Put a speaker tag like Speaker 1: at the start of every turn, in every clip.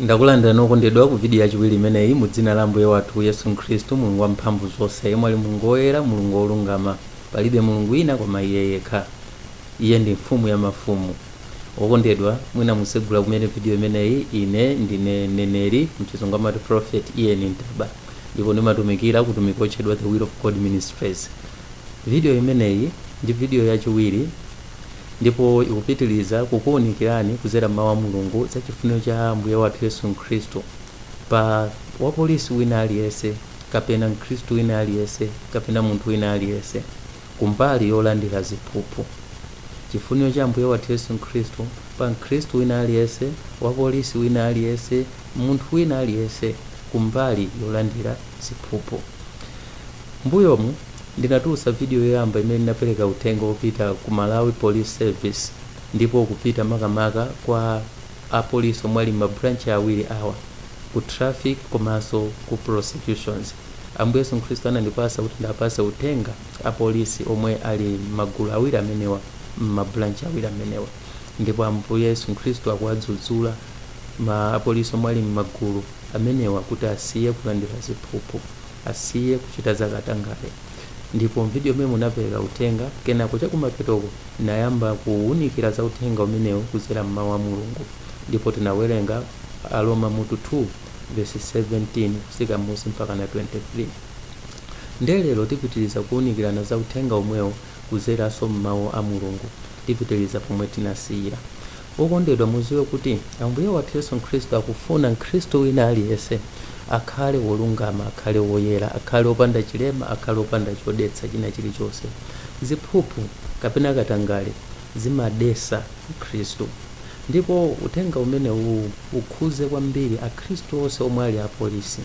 Speaker 1: ndakulandirani okondedwa ku vidiyo yachiwiri imeneyi mu dzina la ambuye wathu yesu khristu mulungu wamphamvu zonse yemwe ali mulungu woyera mulungu wolungama palibe mulungu wina koma iye yekha iye ndi mfumu ya mafumu wokondedwa mwina musegula kumene vidiyo imeneyi ine ndine mneneri m'chizungu amati prophet ian ntaba ndipo ndimatumikira ku utumiki otchedwa the will of god ministries vidiyo imeneyi ndi vidiyo yachiwiri ndipo ikupitiriza kukuunikirani kudzera m'mawu a mulungu za chifuniro cha ambuye wathu yesu khristu pa wapolisi wina aliyense kapena mkhristu wina aliyense kapena munthu wina aliyense kumbali yolandira ziphuphu chifuniro cha ambuye wathu yesu khristu pa mkhristu wina aliyense wapolisi wina aliyense munthu wina aliyense kumbali yolandira ziphuphu Mmbuyomu ndinatulutsa video yoyamba imene ndinapereka uthenga wopita ku Malawi Police Service ndipo kupita makamaka kwa apolisi omwe ali mma branch awiri awa, ku traffic komanso ku prosecutions. Ambuye Yesu Khristu anandipatsa kuti ndiwapatse uthenga apolisi omwe ali mmagulu awiri amenewa mma branch awiri amenewa ndipo Ambuye Yesu Khristu akuwadzudzula ma apolisi omwe ali mmagulu amenewa kuti asiye kulandira ziphuphu. asiye kuchita za katangale ndipo m'vidiyo imeneyo ndinapereka uthenga kenako chakumapetoko ndinayamba kuwunikira za uthenga umenewu kudzera m'Mawu a Mulungu ndipo tinawerenga Aroma mutu 2 vesi 17 kutsika m'munsi mpakana 23. Ndiye lero tipitiriza kuwunikirana za uthenga womwewu kudzeranso m'Mawu a Mulungu. Tipitiriza pomwe tinasiyira. Wokondedwa, muziwe kuti Ambuye wathu Yesu Khristu akufuna Mkhristu wina aliyense akhale wolungama, akhale woyera, akhale opanda chilema, akhale opanda chodetsa china chilichonse. Ziphuphu kapena katangale zimadetsa Mkhristu. Ndipo uthenga umenewuwu ukhuze kwambiri Akhristu onse omwe ali apolisi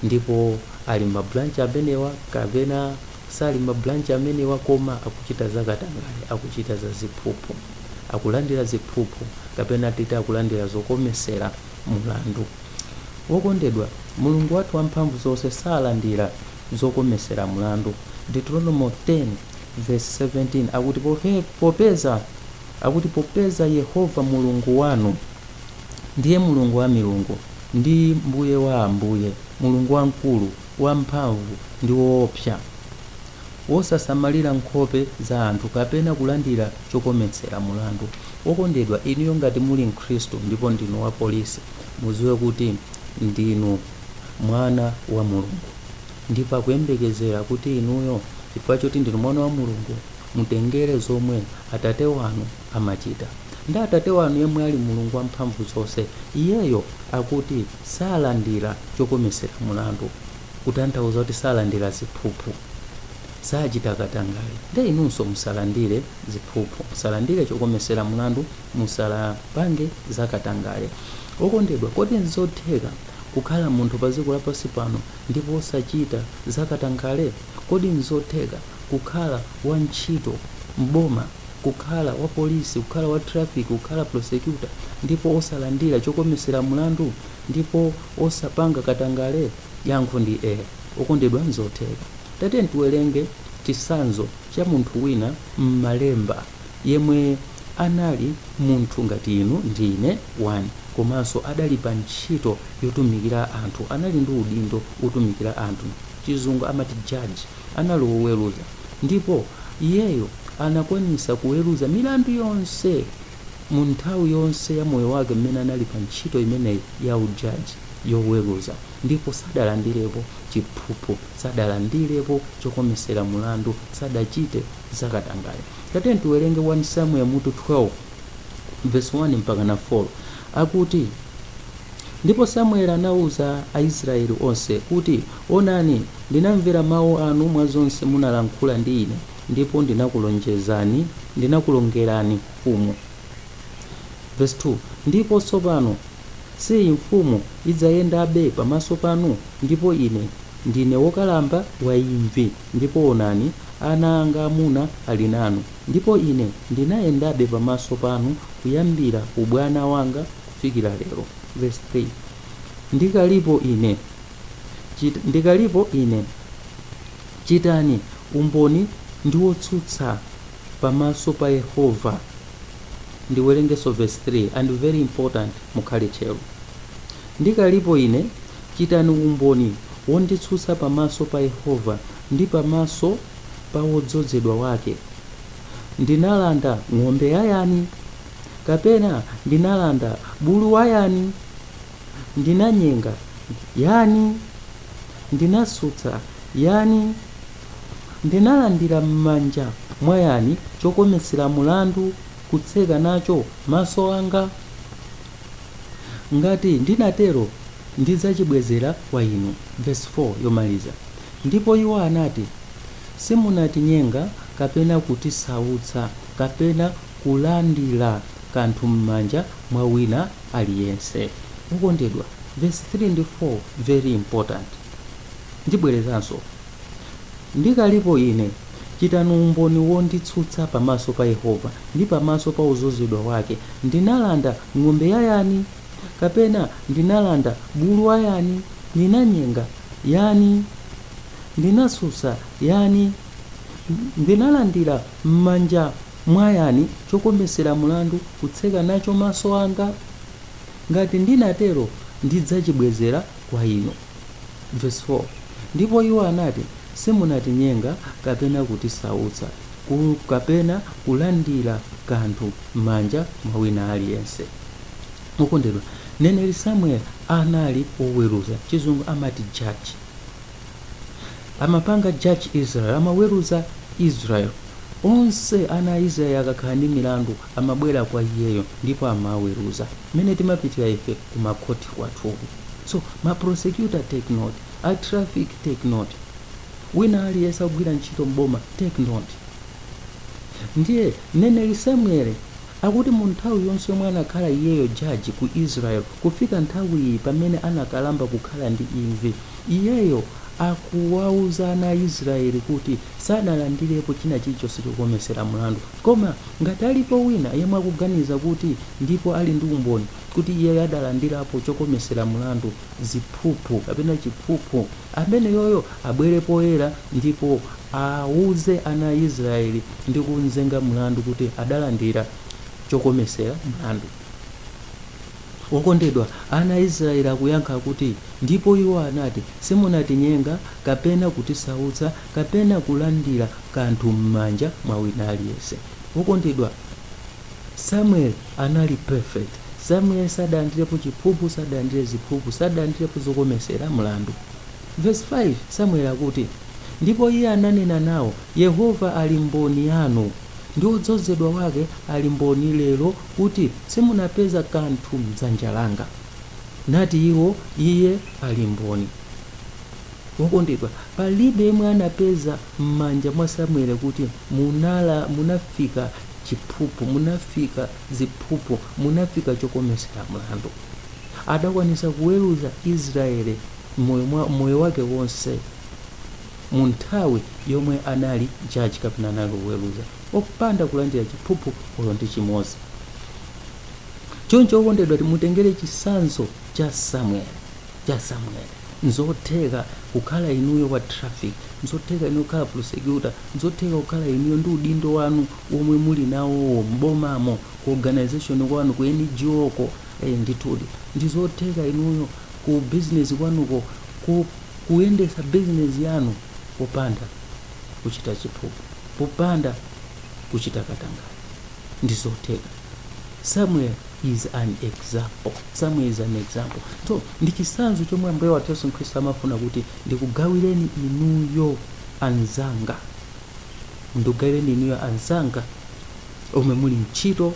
Speaker 1: ndipo ali mma branch amenewa kapena sali mma branch amenewa koma akuchita za katangale, akuchita za ziphuphu. akulandira ziphuphu kapena titi akulandira zokometsera mulandu. Wokondedwa, Mulungu wathu wamphamvu zonse salandira zokometsera mulandu. Deuteronomo 10 vesi 17 akuti popeza Yehova Mulungu wanu ndiye Mulungu wa milungu ndi Mbuye wa ambuye, Mulungu wamkulu, wamphamvu ndi woopsa. wosasamalira nkhope za anthu kapena kulandira chokometsera mulandu. Wokondedwa, inuyo ngati muli Mkhristu ndipo ndinu wapolisi, mudziwe kuti ndinu mwana wa Mulungu ndipo akuyembekezera kuti inuyo, chifukwa choti ndinu mwana wa Mulungu, mutengere zomwe Atate wanu amachita. Ndi Atate wanu yemwe ali Mulungu Wamphamvuzonse. Iyeyo akuti salandira chokometsera mulandu. kutanthauza kuti salandira ziphuphu, sachita katangale, nde inunso musalandire ziphuphu, musalandire chokomesera mulandu, musalapange za katangale. Okondedwa, kodi nzotheka kukhala munthu pa dziko lapansi pano ndipo osachita za katangale? Kodi nzotheka kukhala wa ntchito m'boma, kukhala wa polisi, kukhala wa traffic, kukhala prosecutor ndipo osalandira chokomesera mulandu? ndipo osapanga katangale? Yankho ndi, okondedwa nzotheka. Tatiyeni tiwerenge chitsanzo cha munthu wina m'malemba yemwe anali munthu ngati inu ndi ine 1 komanso adali pa ntchito yotumikira anthu, anali ndi udindo wotumikira anthu, chizungu amati judge, anali woweruza ndipo iyeyo anakwanisa kuweruza milandu yonse. mu nthawi yonse ya moyo wake mmene anali pa ntchito imeneyi ya ujaji, yoweruza, ndipo sadalandirepo chiphuphu, sadalandirepo chokomesera mulandu, sadachite za katangale. Tatiyeni tiwerenge 1 Samueli mutu 12 vesi 1 mpakana 4. Akuti, Ndipo Samueli anauza Aisrayeli onse, kuti, Onani, ndinamvera mawu anu mwa zonse munalankhula ndi ine, ndipo ndinakulonjezani, ndinakulongerani mfumu. Vesi 2 Ndipo tsopano, siyi, mfumu idzayendabe pamaso panu? Ndipo ine ndine wokalamba wa imvi, ndipo onani, ana anga amuna ali nanu, ndipo ine ndinayendabe pamaso panu kuyambira ubwana wanga kufikira lero. Vesi 3 Ndikalipo ine, chit, ndikalipo ine, Chitani umboni ndi wotsutsa pamaso pa Yehova. Ndiwerengeso verse 3 and very important mukhale tcheru.. Ndikalipo ine chitani umboni wonditsutsa pamaso pa Yehova ndi pamaso pa wodzodzedwa wake. Ndinalanda ng'ombe ya yani? Kapena ndinalanda bulu wa yani? Ndinanyenga yani? Ndinasautsa yani? Ndinalandira m'manja mwa yani chokometsera mlandu kutseka nacho maso anga? Ngati ndinatero, ndidzachibwezera kwa inu. Vesi 4 yomaliza. Ndipo iwo anati, Simunatinyenga kapena kutisautsa kapena kulandira kanthu mmanja mwa wina aliyense. Okondedwa vesi 3 ndi 4 very important. Ndibwerezanso Ndikalipo ine chitani umboni wonditsutsa pamaso pa Yehova, ndi pamaso pa wodzozedwa wake, Ndinalanda ng'ombe ya yani? Kapena ndinalanda bulu wa yani? Ndinanyenga yani? Ndinasautsa yani? Ndinalandira mmanja Mwa yani chokometsera mlandu kutseka nacho maso anga? Ngati ndinatero, ndidzachibwezera kwa inu. Vesi 4, Ndipo iwo anati, Simunatinyenga kapena kutisautsa kapena kulandira kanthu m'manja mwa wina aliyense. Okondedwa, mneneri Samueli anali woweruza, chizungu amati judge. amapanga judge israel amaweruza israel onse ana a israel akakhala ndi milandu amabwera kwa iyeyo ndipo amaweruza mmene timapitira ife ku makhoti kwathuku so ma prosecutor take note a traffic take note wina aliyense akugwira ntchito m'boma take note ndiye mneneri samueli Akuti mu nthawi yonse yomwe anakhala iyeyo judge ku Israel kufika nthawi iyi pamene anakalamba kukhala ndi imvi, iyeyo akuwauza ana a Israel kuti sanalandirepo china chilichonse chokometsera mlandu. Koma ngati alipo wina yemwe akuganiza kuti ndipo ali ndi umboni kuti iyeyo adalandirapo chokometsera mlandu, ziphuphu kapena chiphuphu, ameneyoyo abwere poyera ndipo auze ana a Israyeli ndi kumzenga mlandu kuti adalandira chokometsera mlandu. Wokondedwa, ana a Israyeli akuyankha kuti, Ndipo iwo anati, Simunatinyenga, kapena kutisautsa, kapena kulandira kanthu m'manja mwa wina aliyense. Wokondedwa! Samuel anali perfect. Samuel sadalandirepo chiphuphu, sadalandire ziphuphu, sadalandirepo zokometsera mlandu. Verse 5, Samuel akuti, Ndipo iye ananena nao, Yehova ali mboni yanu, ndi wodzozedwa wake ali mboni lero kuti simunapeza kanthu m'dzanja langa. Nati iwo, Iye ali mboni. Wokondedwa, palibe yemwe anapeza m'manja mwa Samuele kuti, Munala, munapeza chiphuphu, munapeza ziphuphu, munapeza chokometsera mlandu. Adakwanitsa kuweruza Israele m'moyo wake wonse mu nthawi yomwe anali judge kapena anali kuweruza, opanda kulandira chiphuphu olo ndi chimodzi. Choncho, okondedwa, timutengere chitsanzo cha Samuele. cha Samuel. Nzotheka kukhala inuyo wa traffic, nzotheka inuyo kukhala prosecutor, nzotheka kukhala inuyo ndi udindo wanu womwe muli nawowo m'bomamo, ku organisation kwanu, ku NGO ko, eh ndithudi. Ndizotheka inuyo ku business kwanuko ku kuyendetsa business yanu popanda kuchita chiphuphu, popanda kuchita katangale. Ndizotheka. samuel is an example so ndi chisanzo chomwe ambuye wathu yesu khristu amafuna kuti ndikugawireni inuyo anzanga ndikugawireni inuyo anzanga omwe muli ntchito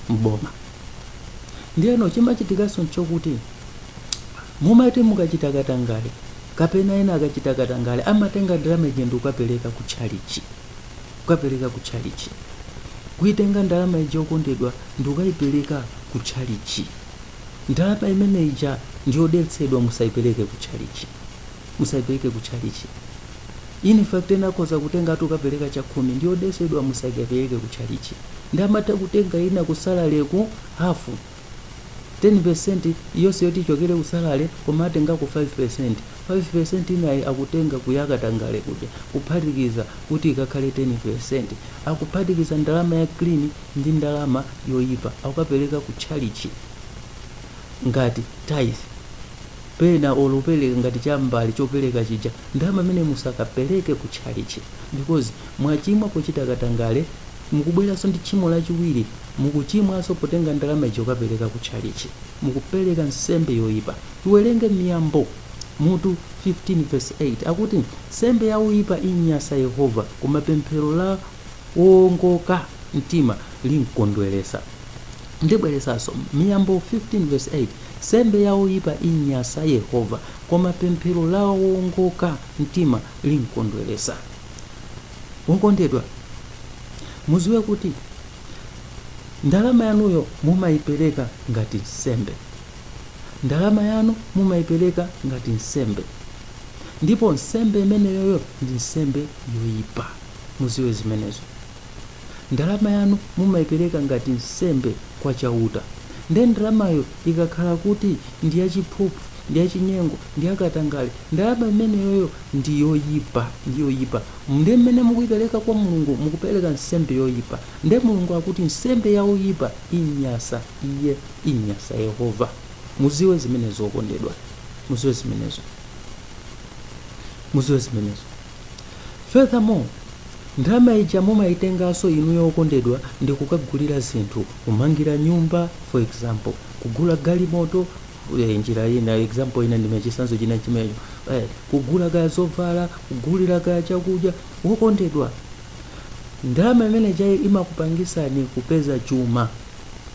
Speaker 1: mboma ndiyeno chimachitikanso nchokuti mumati mukachita katangale kapena ena akachita katangale amatenga ndalama ija ndikukapereka ku tchalichi kukapereka ku tchalitchi kuitenga ndalama ija okondedwa ndikukaipereka ku tchalitchi ndalama imene ija ndiyodetsedwa musaipereke ku tchalitchi musaipereke ku tchalitchi in fact ena akhoza kutenga atokapereka chakhumi ndiyodetsedwa musaipereke ku tchalitchi ndi amatha kutenga ina ku salary ku hafu 10% yonse yoti ichokere ku salary koma atengako 5% 5% inayi akutenga kuya katangale kuja kuphatikiza kuti ikakhale 10% akuphatikiza ndalama ya clean ndi ndalama yoyipa akukapereka ku tchalichi ngati tithe pena olo pereka ngati chambali chopereka chija ndalama imeneyo musakapereke ku tchalichi because Mwachimwa pochita katangale, mukubweranso ndi tchimo lachiwiri, mukuchimwanso potenga ndalama ija kukapereka ku tchalitchi. Mukupereka nsembe yoipa. Tiwerenge Miyambo mutu 15 vesi 8 akuti, Nsembe ya oipa inyansa Yehova, koma pemphero la woongoka mtima limkondweretsa. Ndibwerezanso, Miyambo 15 vesi 8, Nsembe ya oipa inyansa Yehova, koma pemphero la woongoka mtima limkondweretsa. wokondedwa muziwe kuti ndalama yanuyo mumayipereka ngati nsembe ndalama yanu mumayipereka ngati nsembe ndipo nsembe imeneyoyo ndi nsembe yoyipa muziwe zimenezo ndalama yanu mumaipereka ngati nsembe kwa chauta nde ndalamayo ikakhala kuti ndi yachiphuphu ndi yachinyengo ndi yakatangale ndalama imeneyoyo ndi yoyipa ndi yoyipa nde mmene mukuipereka kwa mulungu mukupereka nsembe yoyipa nde mulungu akuti nsembe ya oyipa imnyasa iye imnyasa yehova muziwe zimenezo okondedwa muziwe zimenezo muziwe zimenezo Furthermore, ndalama ija mumaitenganso inuyo okondedwa ndi kukagulira zinthu, kumangira nyumba for example, kugula galimoto eh, njira ina example ina ndiye chitsanzo china chimecho eh, kugula kaya zovala kugulira kaya chakudya wokondedwa ndalama imeneijayo imakupangisani kupeza chuma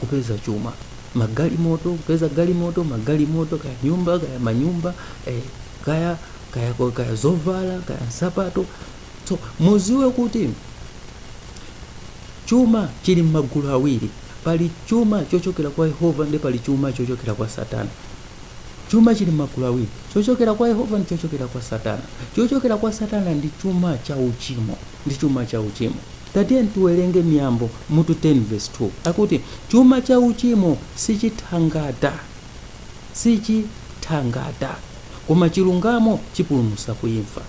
Speaker 1: kupeza chuma magalimoto kupeza galimoto magalimoto kaya nyumba kaya manyumba eh, kaya kaya zovala kaya nsapato so muziwe kuti chuma chili m'magulu awiri pali chuma chochokera kwa yehova ndi pali chuma chochokera kwa satana chuma chili m'magulu awiri chochokera kwa yehova ndi chochokera kwa satana chochokera kwa satana ndi chuma cha uchimo ndi chuma cha uchimo tatiyeni tiwerenge miyambo mutu 10 verse 2 akuti chuma cha uchimo sichithangata sichithangata, koma chilungamo chipulumutsa ku imfa.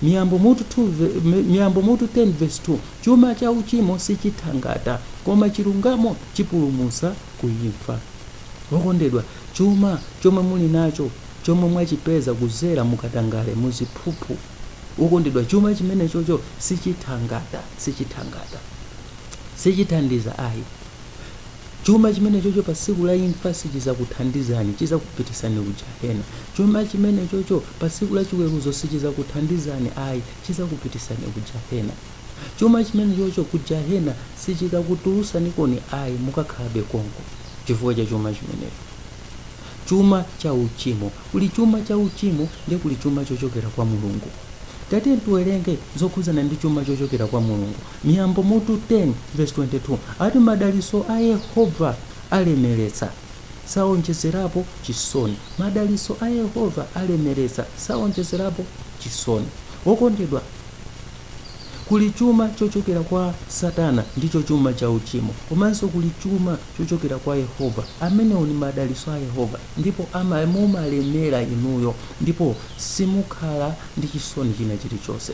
Speaker 1: Miyambo mutu 2 ve- Miyambo mutu 10 verse 2 chuma cha uchimo sichithangata koma chilungamo chipulumutsa ku imfa. Okondedwa, chuma chomwe muli nacho chomwe mwachipeza kuzera mukatangale muziphuphu wokondedwa chuma chimenechocho sichithangata sichithangata sichithandiza ayi Chuma chimenechocho pa tsiku la imfa sichidzakuthandizani, chidzakupititsani ku jahena. Chuma chimenechocho pa tsiku la chiweruzo sichidzakuthandizani ayi, chidzakupititsani ku jahena. Chuma chimenechocho ku jahena sichikakutulutsanikoni ayi, mukakhalabe konko chifukwa cha chuma chimenecho. Chuma cha uchimo. Kuli chuma cha uchimo ndi kuli chuma chochokera kwa Mulungu. Tatiyeni tiwerenge zokhudzana ndi chuma chochokera kwa Mulungu. Miyambo mutu 10 vesi 22 ati, Madalitso a Yehova alemeretsa, sawonjezerapo chisoni. Madalitso a Yehova alemeretsa, sawonjezerapo chisoni. Wokondedwa, kuli chuma chochokera kwa Satana, ndicho chuma cha uchimo. Komanso kuli chuma chochokera kwa Yehova. Amenewo ndi madalitso a Yehova, ndipo ama, mumalemera inuyo ndipo simukhala ndi chisoni china chilichonse.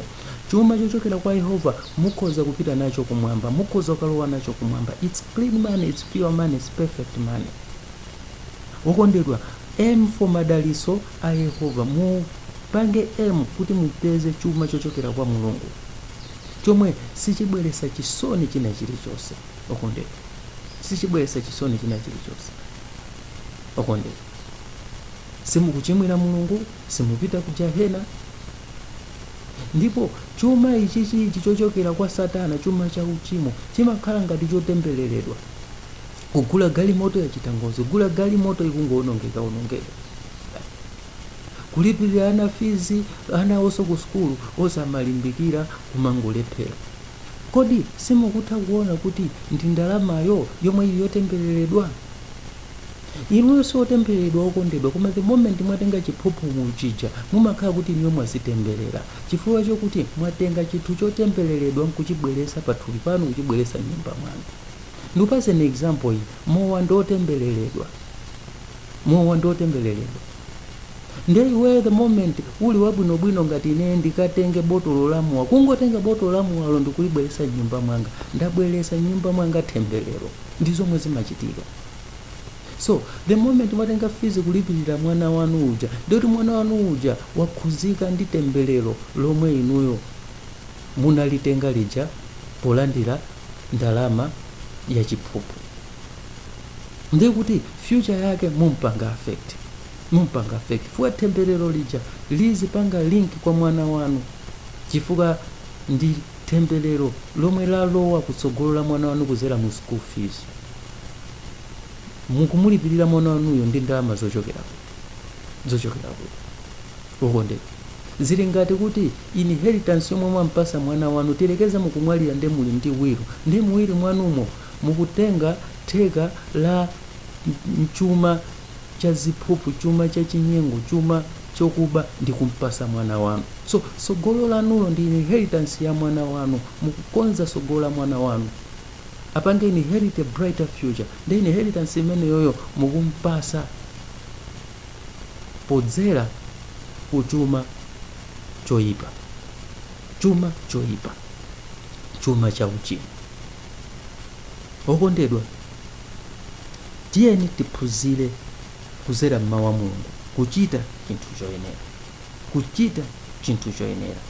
Speaker 1: Chuma chochokera kwa Yehova mukhoza kupita nacho kumwamba, mukhoza kukalowa nacho kumwamba. It's clean money, it's pure money, it's perfect money. Wokondedwa, aim for madaliso a Yehova. Mupange aim kuti mupeze chuma chochokera kwa Mulungu chomwe sichibweresa chisoni china chilichonse. Wokondedwa, sichibweresa chisoni china chilichonse. Wokondedwa, simukuchimwira Mulungu, simupita ku jahena. Ndipo chuma ichichichi chochokera kwa Satana, chuma cha uchimo, chimakhala ngati chotembeleredwa. Kugula galimoto yachita ngozi, kugula galimoto ikungowonongeka onongeka, kulipirira ana fees, ana onso ku sukulu osamalimbikira kumangolephera. Kodi simukutha kuona kuti ndi ndalamayo yomwe ili yotembeleredwa? Inuyo si otembeleledwa okondedwa koma the moment mwatenga chiphuphu chija mumakhala kuti inuyo mwazitembelela chifukwa chokuti mwatenga chinthu chotembeleledwa nkuchibwelesa pa thupi panu kuchibwelesa mnyumba mwanu. Ndikupaseni example iyi mowa ndi otembeleledwa mowa ndi otembeleledwa nde iweyo the moment uli wabwinobwino ngati ineyo ndikatenge botolo la mowa kungotenga botolo la mowalo ndikulibwelesa mnyumba mwanga ndabwelesa mnyumba mwanga thembelelo ndi zomwe zimachitika. so the moment mwatenga fees kulipirira mwana wanu uja nde kuti mwana wanu uja wakhuzika ndi temberero lomwe inuyo munalitenga lija polandira ndalama ya chiphuphu ndiye kuti future yake mumpanga affect mumpanga affect chifukwa temberero lija lizipanga link kwa mwana wanu chifukwa ndi temberero lomwe lalowa kutsogolo la mwana wanu kuzera mu school fees mukumulipirira mwana wanuyo ndi ndalama zochokera kuti zochokera kuti okondedwa zili ngati kuti inheritance yomwe mwampasa mwana wanu tiyerekeze mukumwalira nde muli ndi wilu nde mu wilu mwanumo mukutenga theka la m- chuma cha ziphuphu chuma cha chinyengo chuma chokuba ndi kumpasa mwana wanu so sogolo lanulo ndi inheritance ya mwana wanu mukukonza sogolo la mwana wanu apange inherit a brighter future nde inheritance imeneyoyo mukumpasa podzera kuchuma choyipa chuma choyipa chuma cha uchimo okondedwa tiyeni tiphunzire kuzera mmawu a mulungu kuchita chinthu choyenera kuchita chinthu choyenera.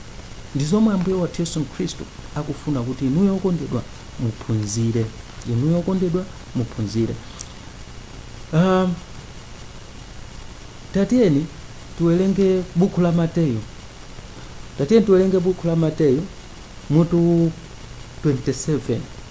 Speaker 1: Ndi zomwe Ambuye wathu Yesu Khristu akufuna kuti inuyo okondedwa muphunzire. Inuyo okondedwa muphunzire. Uh, tatiyeni tuwerenge buku la Mateyu. Tatiyeni tuwerenge buku la Mateyu mutu 27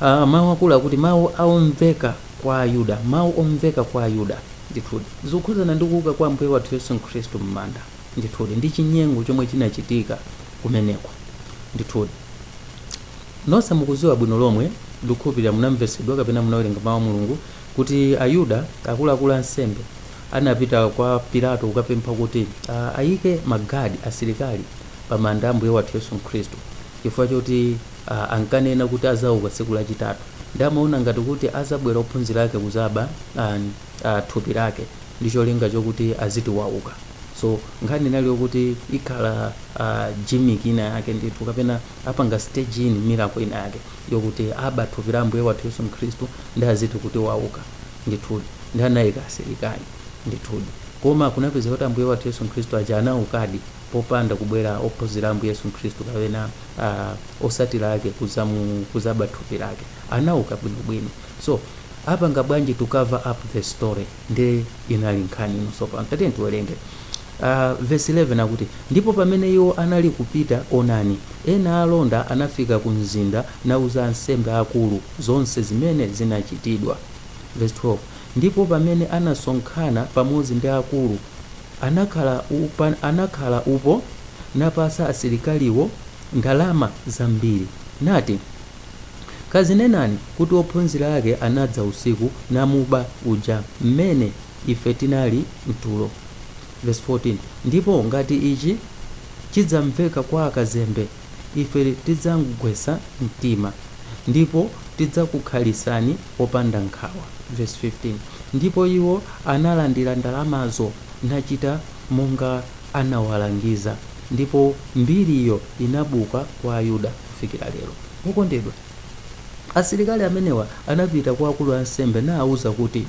Speaker 1: Uh, mawu akulu akuti mawu aomveka kwa ayuda mawu omveka kwa ayuda ndithudi zikukhuzana ndi kuuka kwa ambuye wathu yesu khristu m'manda ndithudi ndi chinyengo chomwe chinachitika kumeneko ndithudi nonse mukuziwa bwino lomwe ndikukhulupirira munamvesedwa kapena munawerenga mawu a mulungu kuti ayuda akuluakulu ansembe anapita kwa pilato kukapempha kuti uh, ayike magadi asilikali pa manda a ambuye wathu yesu khristu chifukwa choti a ankanena kuti azauka tsiku lachitatu ndi amaona ngati kuti azabwera ophunzira ake kuzaba a, a thupi lake ndi cholinga chokuti aziti wauka so nkhani inali yokuti ikhala a gimmick ina yake ndithu kapena apanga stage in miracle ina yake yokuti aba thupi la ambuye wathu yesu mkhristu ndi aziti kuti wauka ndithudi ndi anayika asilikali ndithudi koma kunapezeka kuti ambuye wathu yesu mkhristu aja anaukadi popanda kubwera ophunzira a ambuye yesu mkhristu kapena a osatila ake kuzamu kuzaba thupi lake anauka bwino bwino so apanga bwanji to cover up the story nde inali nkhani ino so pano tatiyeni tiwelenge a verse 11 akuti ndipo pamene iwo anali kupita onani ena alonda anafika ku mzinda nauza ansembe akulu zonse zimene zinachitidwa verse 12 ndipo pamene anasonkhana pamodzi ndi akulu Anakhala anakhala upo napasa asilikaliwo ndalama zambiri, nati, Kazinenani kuti ophunzira ake anadza usiku namuba uja m'mene ife tinali m'tulo. Vesi 14, Ndipo ngati ichi chidzamveka kwa akazembe. Ife tidzamgwetsa mtima, ndipo tidzakukhalisani opanda nkhawa. Vesi 15, Ndipo iwo analandira ndalamazo, nachita monga anawalangiza, ndipo mbiriyo inabuka kwa Ayuda kufikira lero. Wokondedwa, asilikali amenewa anapita kwa akulu ansembe naauza kuti,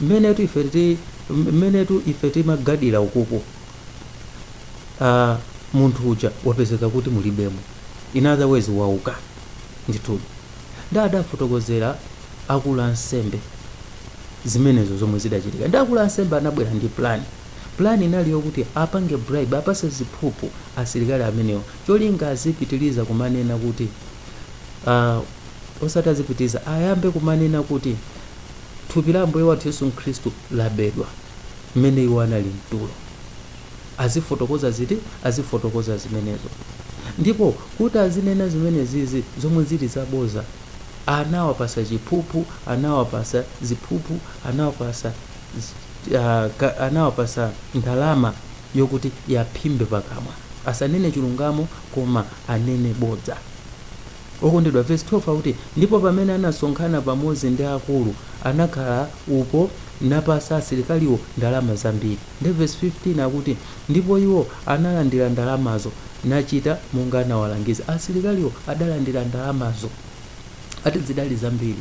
Speaker 1: Mmenetu ife ti, mmenetu ife timagadira ukuku. uh, munthu uja wapezeka kuti mulibemo in other words wauka ndithudi ndi adafotokozera akulu ansembe zimenezo zomwe zidachitika ndi akulu ansembe anabwera ndi plan plan inali yokuti apange bribe apase ziphuphu asilikali amenewo cholinga azipitiriza kumanena kuti uh, osati azipitiriza ayambe kumanena kuti thupi la ambuye wathu yesu khristu labedwa mmene iwo anali mtulo. Azifotokoza ziti? Azifotokoza zimenezo. Ndipo kuti azinena zimenezizi zomwe zili zabodza, anawapasa chiphuphu, anawapasa ziphuphu, anawapasa z- ah, ka- anawapasa ndalama yokuti yawaphimbe pakamwa, asanene chilungamo koma anene bodza. Okondedwa, vesi 12 akuti, Ndipo pamene anasonkhana pamodzi ndi akulu, anakhala upo, napatsa asilikaliwo ndalama zambiri. Ndiye vesi 15 akuti, Ndipo iwo analandira ndalamazo, nachita monga anawalangiza. Asilikaliwo adalandira ndalamazo. Ati zidali zambiri.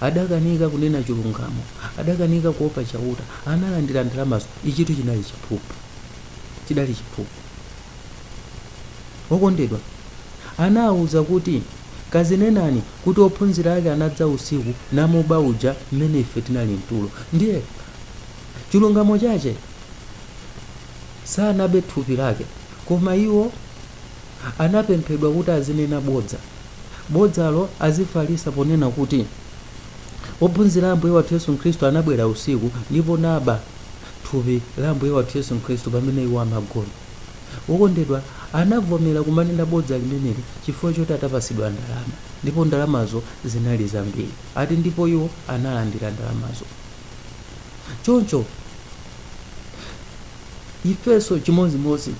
Speaker 1: Adakanika kunena chilungamo. Adakanika kuopa Chauta. Analandira ndalamazo. Ichitu chinali chiphuphu. Chidali chiphuphu. Okondedwa anawauza kuti, Kazinenani kuti ophunzira ake anadza usiku namuba uja mmene ife tinali mtulo. Ndiye chilungamo chache sanabe thupi lake, koma iwo anapemphedwa kuti azinena bodza. Bodzalo azifalisa ponena kuti, Ophunzira a Ambuye wathu Yesu Kristu anabwera usiku ndipo naba thupi la Ambuye wathu Yesu Kristu pamene iwo amagona. Okondedwa anavomera kumanena bodza limeneli chifukwa choti atapasidwa ndalama ndipo ndalamazo zinali zambiri. Ati ndipo iwo analandira ndalamazo. Choncho ifenso chimozimozi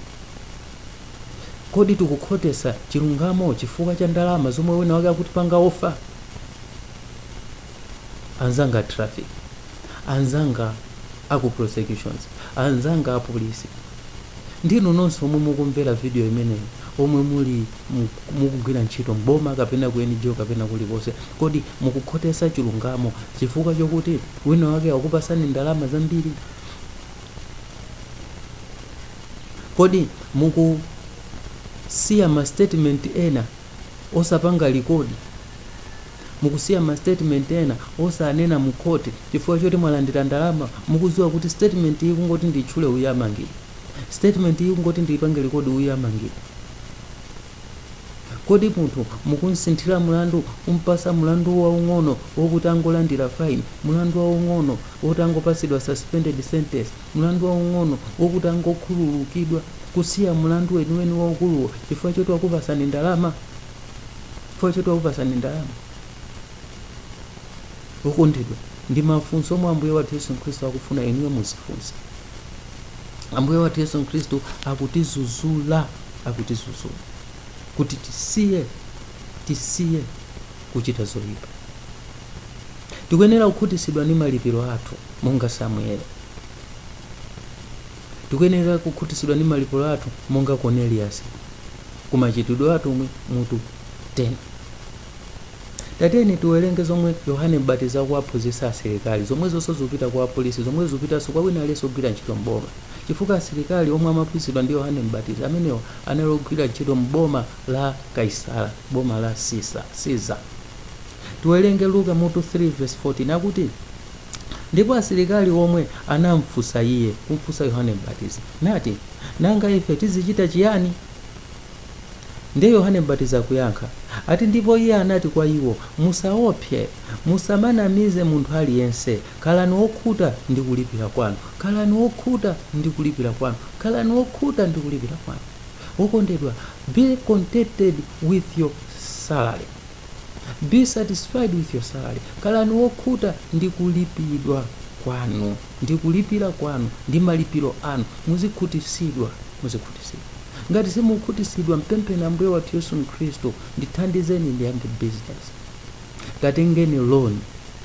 Speaker 1: kodi tikukhotesa chilungamo chifukwa cha ndalama zomwe wina wake akutipanga offer? Anzanga traffic, anzanga aku prosecutions, anzanga apolisi. ndi inu nonse omwe mukumvera video imeneyi omwe muli mu- mukugwira ntchito m'boma kapena ku NGO kapena kulikonse kodi mukukhotesa chilungamo chifukwa chokuti wina wake wakupasani ndalama zambiri kodi mukusiya ma statement ena osapanga likodi Mukusiya ma statement ena osanena mu court chifukwa choti mwalandira ndalama mukudziwa kuti statement iyi kungoti ndiitchule uyu amangidwa. Statement iyi kungoti ndiipange record uyu amangidwa. Kodi munthu mukumsinthira mulandu kumpasa mulandu waung'ono wokuti angolandira fine, mulandu waung'ono woti angopatsidwa suspended sentence, mulandu waung'ono wokuti angokhululukidwa kusiya mulandu weniweni waukuluwo chifukwa choti wakupasani ndalama? chifukwa choti wakupasani ndalama okondedwa ndi mafunso omwe ambuye wathu yesu khristu akufuna inuyo muzifunse ambuye wathu yesu khristu akutizuzula akutizuzula kuti tisiye tisiye kuchita zoyipa tikuyenera kukhutitsidwa ndi malipiro athu monga samueli Tikuyenera kukhutitsidwa ndi malipiro athu monga Koneliyasi ku Machitidwe a Atumwi mutu 10. Tatiyeni tiwerenge zomwe Yohane Mbatizi akuwaphunzitsa asilikali, zomwezonso zikupita kwa apolisi, zomwezo zikupitanso kwa wina aliyense ogwira ntchito m'boma. Chifukwa asilikali omwe amaphunzitsidwa ndi Yohane Mbatizi amenewa anali ogwira ntchito m'boma la Kaisara, boma la Sisa, Caesar. Tiwerenge Luka mutu 3 vesi 14 akuti. Ndipo asilikali omwe anamfunsa iye, kumfunsa Yohane Mbatizi, nati, Nanga ife tizichita chiyani? Ndiye Yohane Mbatizi akuyankha, ati ndipo iye anati kwa iwo, Musaopse, musamanamize munthu aliyense, khalani okhuta ndi kulipira kwanu, khalani okhuta ndi kulipira kwanu, khalani okhuta ndi kulipira kwanu. Wokondedwa, be contented with your salary. be satisfied with your salary khalani wokhuta ndi kulipidwa kwanu ndi kulipira kwanu ndi malipiro anu muzikhutisidwa muzikhutisidwa ngati simukhutisidwa mpempheni ambuye wathu yesu mkhristu ndithandizeni ndiyambe business katengeni loan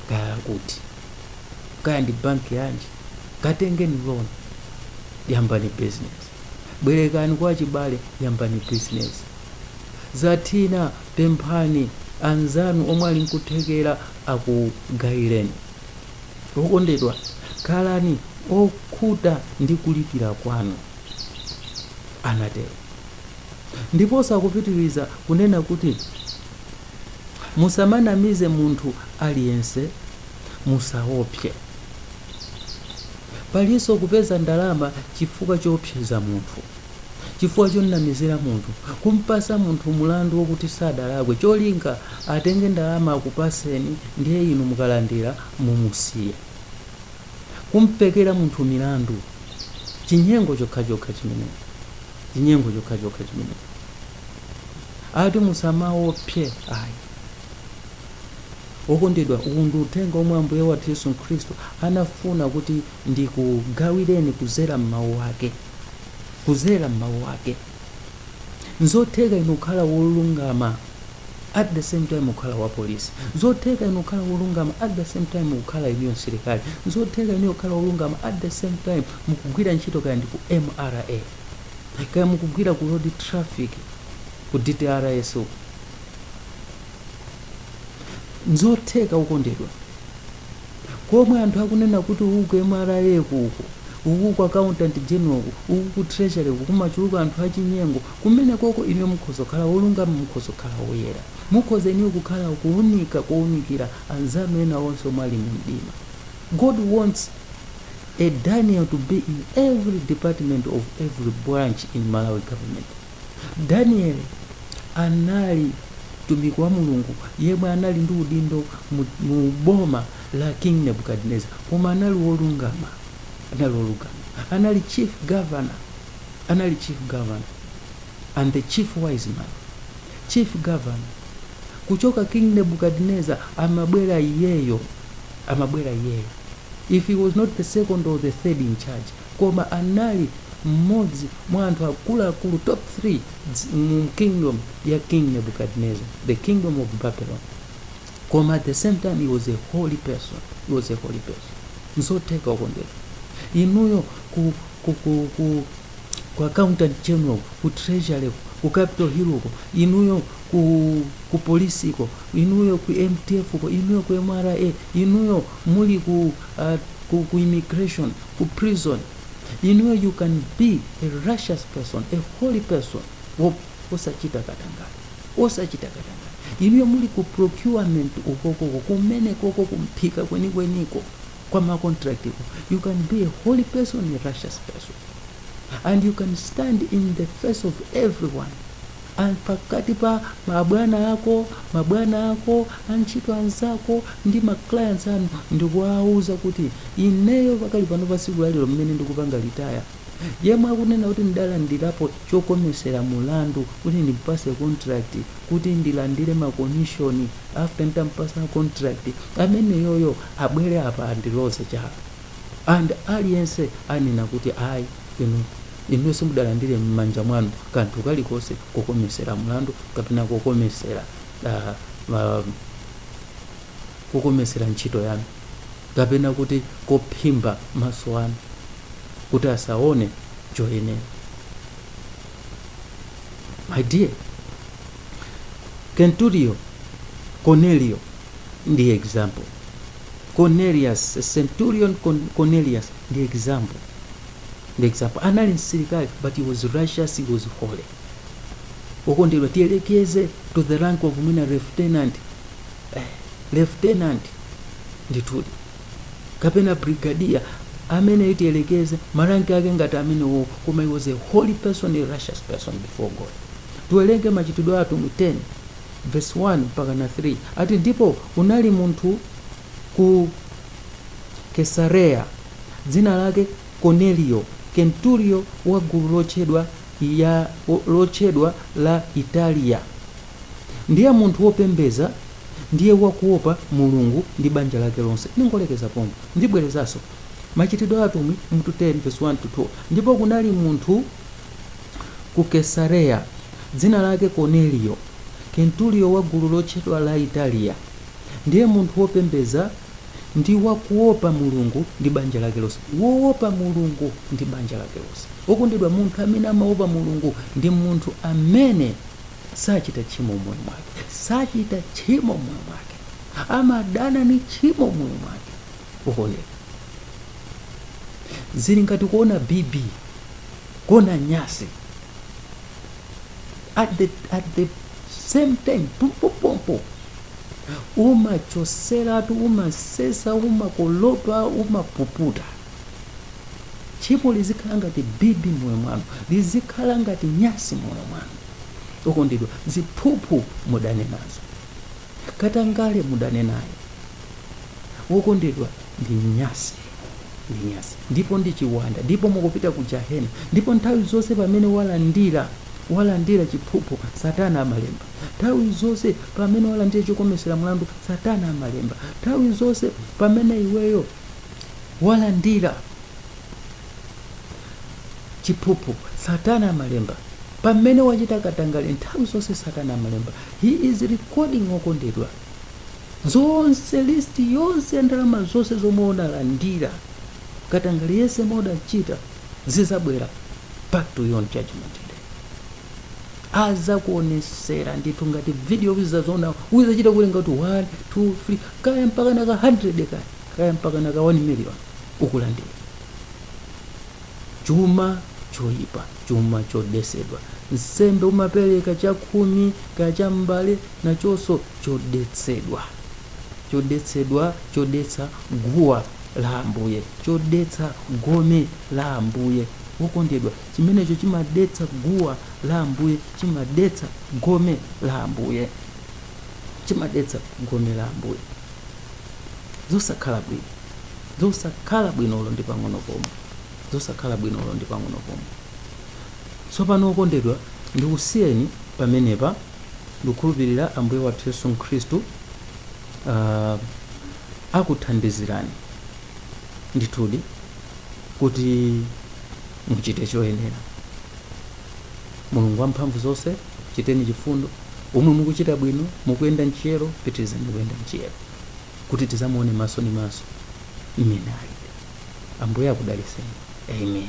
Speaker 1: kaya kuti kaya ndi banki yanji katengeni loan yambani business bwerekani kwa chibale yambani business zathina Pemphani anzanu omwe ali nkuthekera akugaileni. Okondedwa, khalani okhuta ndi kulipira kwanu, anatero. Ndiponso akupitiriza kunena kuti, Musamanamize munthu aliyense, musaopse. Palinso kupeza ndalama chifukwa choopseza munthu. chifukwa chomnamizira munthu kumpasa munthu mulandu wokuti sadalakwe cholinga atenge ndalama akupaseni ndiye inu mukalandira mumusiya kumpekera munthu milandu chinyengo chokhachokha chimenecho chinyengo chokhachokha chimenecho ati musamaopse ayi okondedwa uwu ndi uthenga omwe ambuye wathu yesu khristu anafuna kuti ndikugawireni kuzera m'mawu ake kuzera m'mawu ake nzotheka inu kukhala wolungama at the same time kukhala wa polisi nzotheka inu kukhala wolungama at the same time kukhala inuyo msilikali nzotheka inuyo kukhala wolungama at the same time mukugwira ntchito kaya ndi ku mra kaya mukugwira ku road traffic ku dtrs uko nzotheka okondedwa komwe anthu akunena kuti uku ku mra kuko uku ku accountant general uku ku treasury kumachuluka anthu achinyengo kumene koko inuyo mukhoza kukhala wolungama mukhoza kukhala woyera mukhoza inuyo kukhala kuunika kounikira anzanu ena onse omwe ali mu mdima god wants a daniel to be in every department of every branch in malawi government Danieli anali mtumiki wa Mulungu yemwe anali ndi udindo mu, mu boma la King Nebuchadnezzar, koma anali wolungama, anali wolungama, anali chief governor, anali chief governor and the chief wise man, chief governor kuchoka King Nebuchadnezzar amabwera iyeyo, amabwera iyeyo. If he was not the second or the third in charge, koma anali mmodzi mwa anthu akuluakulu top 3 dzi- mu kingdom ya king nebuchadnezzar the kingdom of babylon koma at the same time he was a holy person he was a holy person nzotheka okondedwa inuyo ku, ku, ku, ku ku accountant general ku treasury ku- ku capital hill ko inuyo ku, ku polisi ko inuyo ku mdf ko inuyo ku mra inuyo muli ku, uh, ku, ku immigration ku prison inuyo you can be a righteous person a holy person wo osachita katangale osachita katangale inuyo muli ku procurement ukokoko kumene koko kumpika kwenikweniko kwa ma contract ko you can be a holy person a righteous person and you can stand in the face of everyone And pakati pa mabwana ako, mabwana ako, antchito anzako ndi ma clients anu ndikuwauza kuti ineyo pakali pano pa tsiku lalero mmene ndikupanga retire yemwe akunena kuti ndidalandirapo chokomesera mulandu kuti ndimpase contract kuti ndilandire ma commission after nitampasa contract ameneyoyo abwere apa andiloze chala and aliyense anena kuti ayi inu Inu simudalandire m'manja mwanu kanthu kalikonse kokometsera mlandu kapena kokometsera ah, ma- kokometsera ntchito yanu kapena kuti kophimba maso anu kuti asaone choyenera my dear kenturiyo cornelio ndi example cornelius centurion Con- cornelius ndi example ndi example anali msilikali but he was righteous he was holy wokondedwa tiyelekeze to the rank of mwina lieutenant eh, lieutenant ndithudi kapena brigadier amene tiyelekeze maranki ake ngati amenewo koma he was a holy person a righteous person before god tiwerenge machitidwe atumwi 10 verse 1 mpaka na 3 ati ndipo kunali munthu ku kesareya dzina lake Koneliyo, kenturiyo wa gulu lotchedwa ya lotchedwa la Italiya, ndiye munthu wopembedza, ndiye wakuopa Mulungu, ndi banja lake lonse. Ndingolekeza pompo, ndibwerezanso. Machitidwe a Atumwi, 10, vesi 1 to 2. Ndipo kunali munthu ku Kesareya, dzina lake Koneliyo, kenturiyo wa gulu lotchedwa la Italiya, ndiye munthu wopembedza, ndi wakuopa mulungu ndi banja lake lonse woopa mulungu ndi banja lake lonse wokondedwa munthu amene amaopa mulungu ndi munthu amene sachita tchimo moyo mwake sachita tchimo moyo mwake amadana ni tchimo moyo mwake wokondedwa zili ngati kuona bibi kuona nyasi at the, at the same time pompopompo umachoseratu umasesa umakolopa umapuputa tchimo lizikhala ngati bibi moyo mwanu lizikhala ngati nyasi moyo mwanu wokondedwa ziphuphu mudane nazo katangale mudane naye wokondedwa ndi nyasi ndi nyasi ndipo ndi chiwanda ndipo mukupita ku jahena ndipo nthawi zonse pamene walandira walandira chiphuphu satana amalemba Nthawi zonse pamene walandira chokometsera mlandu, Satana amalemba. Nthawi zonse pamene iweyo walandira chiphuphu, Satana amalemba. Pamene wachita katangale, nthawi zonse Satana amalemba. He is recording okondedwa. Zonse listi yonse ya ndalama zonse zomwe unalandira katangale yense omwe udachita zizabwera back to you on judgment day. azakuonesera ndithu ngati video uzaziona uzachita kuwerenga kuti 1 2 3 kaya mpaka naka 100 kaya kaya mpaka naka 1 million ukulandira chuma choyipa chuma chodetsedwa nsembe umapereka chakhumi kaya chambale nachonso chodetsedwa chodetsedwa chodetsa guwa la ambuye chodetsa gome la ambuye wokondedwa Chimenecho chimadetsa guwa la Ambuye, chimadetsa gome la Ambuye, chimadetsa gome la Ambuye. Zosakhala bwino, zosakhala bwino ulo ndi pang'ono pomwe, zosakhala bwino olo ndi pang'ono pomwe. Tsopano okondedwa, ndikusiyeni pamenepa, ndikukhulupirira Ambuye wathu Yesu Khristu uh, akuthandizirani ndithudi. kuti muchite choyenera mulungu wamphamvu zonse chiteni chifundo omwe mukuchita bwino mukuyenda mchiyero pitirizani kuyenda mchiyero kuti tizamuone maso ni maso mmene ali ambuye akudaliseni amen